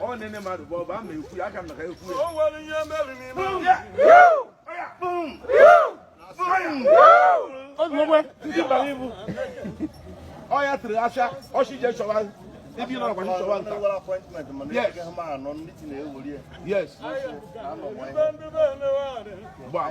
ọ nene mmadụ bụ ọba ama ekwu ya aka m na ka ekwu ya o nwere ihe mere n'ime ndị bara ibu ọ ya tiri asha ọchị je chọwa ebe ị nọ nakwa chọwa nta yes yes gbaa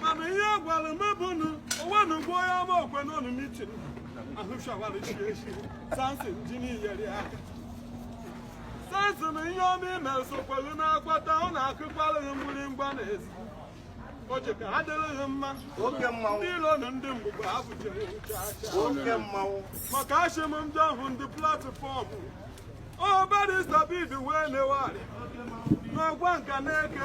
mana ihe gwara m bụ na onwe na ugbo onye ama okwe n'ọnụ mitin ahụchawara chi echi sansi ji nyere aka sansi na ihe ọma i mere sokwa gị na-akwata ọ na-akụkwara gị mgbịrịmgba n'ezi o ji ka ha dịrị gị mma ndị ilo na ndị mgbugbo ha bụjere chacha Oke mmanwụ. maka achịm ndị ahụ ndị platfọọmụ ọbadịstabid wee newari n'ọgwa nka n'eke